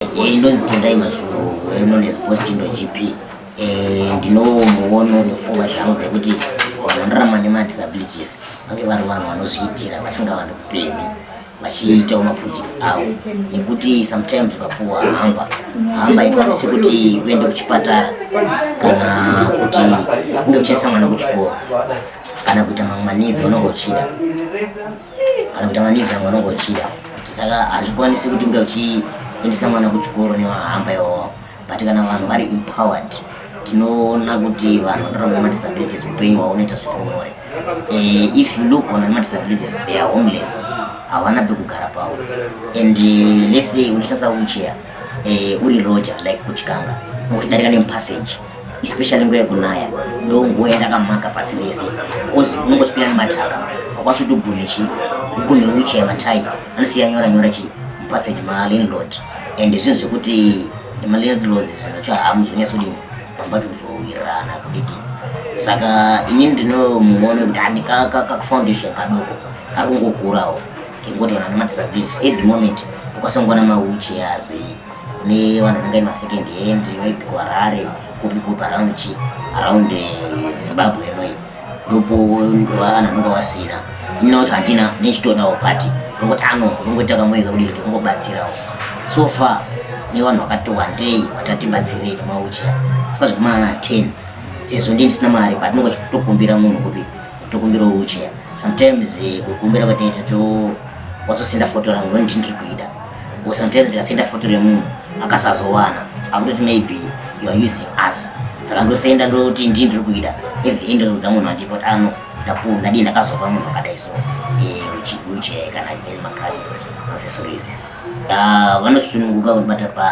Eh, inonzi tendai masuru eh, known as posting gp eh, ndinomuono nepfungwa dzavo dzekuti vanhu vanorarama nemadisabilities vange vari vanhu vanozviitira vasingavani kupemi vachiitawo maprojects avo nekuti sometimes ukapuwa hamba hamba ikwanisi kuti uende kuchipatara kana kuti unge uchendesa mwana kuchikoro kana kuita mamwe manidzi unenge uchida kana kuti amanidza mwana wangu achida kuti saka hazvikwanisi kuti unge uchiendesa mwana kuchikoro nevahamba iwawo but kana vanhu vari empowered tinoona kuti vanhu vanorarama madisabilities upenyu hwavo unoita zviri nyore eh, if you look on madisabilities they are homeless havana pekugara pavo and eh, lese unoshandisa wheelchair eh, uri roger like kuchikanga uchidarika nemupassage especially nguva yekunaya ndo nguva yatakamhaka pasi rese because unenge uchipinda nemataka akwanisa kuti ugone chii ugone wheelchair matai anosiya nyora nyora chii mupassage malandlord and zvinhu zvekuti malandlords zvinacho hamuzonyatsodini pamba tikuzowirirana kuvidi saka ini ndinomuona kuti handi kafoundation kadoko kari kungokurawo kekungoti vanhu vane madisabilities every moment ukasongwa namawheelchairs ne vanhu vangai ma second hand maybe ku harare kupi kupi around chi around eh, zimbabwe inoyi ndopo vanhu vanonga vasina ino kuti handina nechitodawo but ungotano ungoita kamoika kudii kuti ungobatsirawo so far ne vanhu vakati wandei vatatibatsirei maucha saka zvekuma ten sezvo ndi ndisina mari but ndinonga chitokumbira munhu kuti tokumbira ucha sometimes eh, kukumbira kwataita to wazosinda foto rangu ndondingi kuida Usanditere ndikasenda foto remunhu akasazowana akutoti maybe you are using us saka ndosenda ndoti ndii ndiri kuida at the end ndozodza munhu andipa kuti ano ndapuwa ndadii ndakazopa munhu akadai so uchibuche eh, kana any macrashes accessories ah, vanosununguka kundibata pa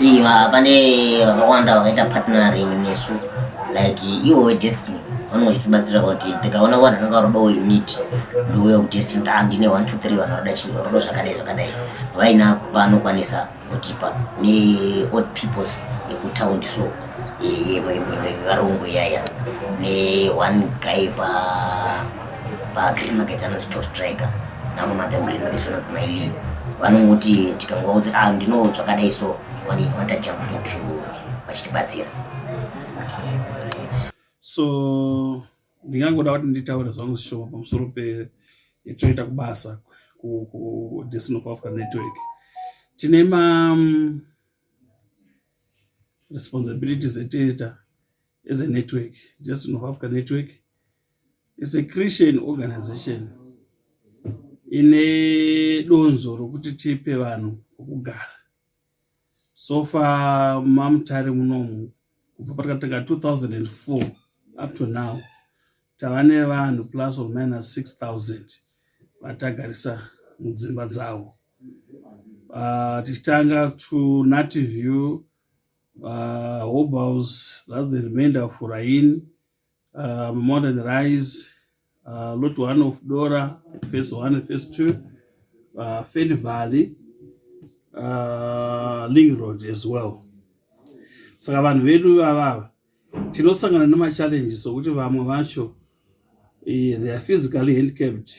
Iva pane vakawanda vakaita partnering nesu like ivo vedestiny vanenge vachitibatsira kuti tikaona vanhu vanenge varoda uyu nit ndiuya kudestiny ta ah, ndine one two three vanhu varoda chii varoda zvakadai zvakadai vaina vanokwanisa kutipa neold peoples yekutaundi so varungu yaya neone guy pa pagreen market anonzi top striker namwe mathe green market vanonzi maili vanongoti tikangoudza ah ndino zvakadai so wanini wanta jump into vachitibatsira so ndingangoda kuti nditaure zvangu zvishoma pamusoro petoita kubasa kudestin of africa network tine ma mm, responsibilities etoita as a network destin of africa network is a Christian organization ine donzo rokuti tipe vanhu pokugara so far mamutare munomu kubva patakatanga 2004 up to now tava nevanhu plus or minus 6000 vatagarisa mudzimba dzavo uh, tichitanga to native view uh, hobhouse that the remainder of rain uh, modern rice uh, lot one of dora face one face two uh, fed valley uh, ling road as well saka vanhu vedu vavava tinosangana nemachallenges okuti vamwe vacho eh, they are physically handcapped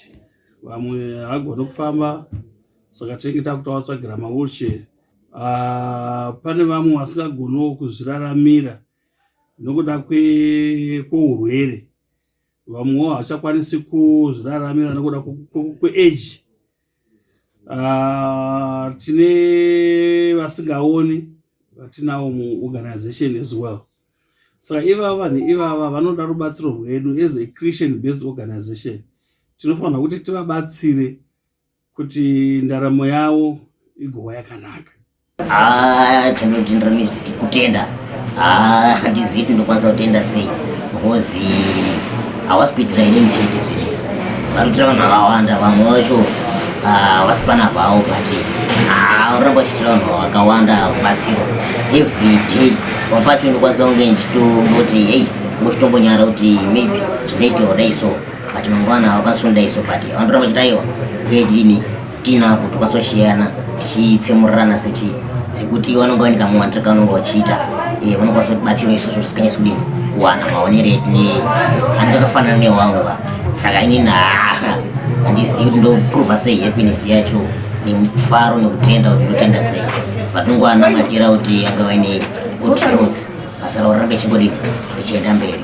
vamwe hagone kufamba saka tinenge takutawatsvagira mawheelchair uh, pane vamwe vasingagonewo kuzviraramira nokuda kweurwere vamwewo havachakwanisi kuzviraramira nokuda kweage ah, tine vasingaoni vatinawo muorganization as well saka ivava vanhu ivava vanoda rubatsiro rwedu as a christian based organization tinofanira kuti tivabatsire kuti ndaramo yavo igova yakanaka ah, chandodindira kutenda ah, handizivi kuti ndokwanisa kutenda sei because hawasi kuitira ini ndichete zvinhu izvi vari kuitira vanhu vakawanda vamwe vacho havasi ah, pana vavo but anoramba achiitira vanhu vakawanda kubatsirwa every day papacho ndokwanisa kunge ndichitoti hey ngochitombonyara kuti maybe zvinoitawo dai so but mangwana wakasunda iso but wandoramba uchiti aiwa uye chidini tinapo tokasoshiyana tichitsemurirana sechi sekuti iwe vanonga vanika muwandira kavanonga vachiita eh, vanokwanisa kutibatsira isusu tisikanyasi kudini kuwana maonero edu ne ani kakafanana newangu va saka inini haa handizivi kuti ndoprova sei happiness yacho nemufaro nekutenda kuti ndotenda sei vatongoanamatira kuti anga vaine good health basa ravo ranga ichingodii ichienda mberi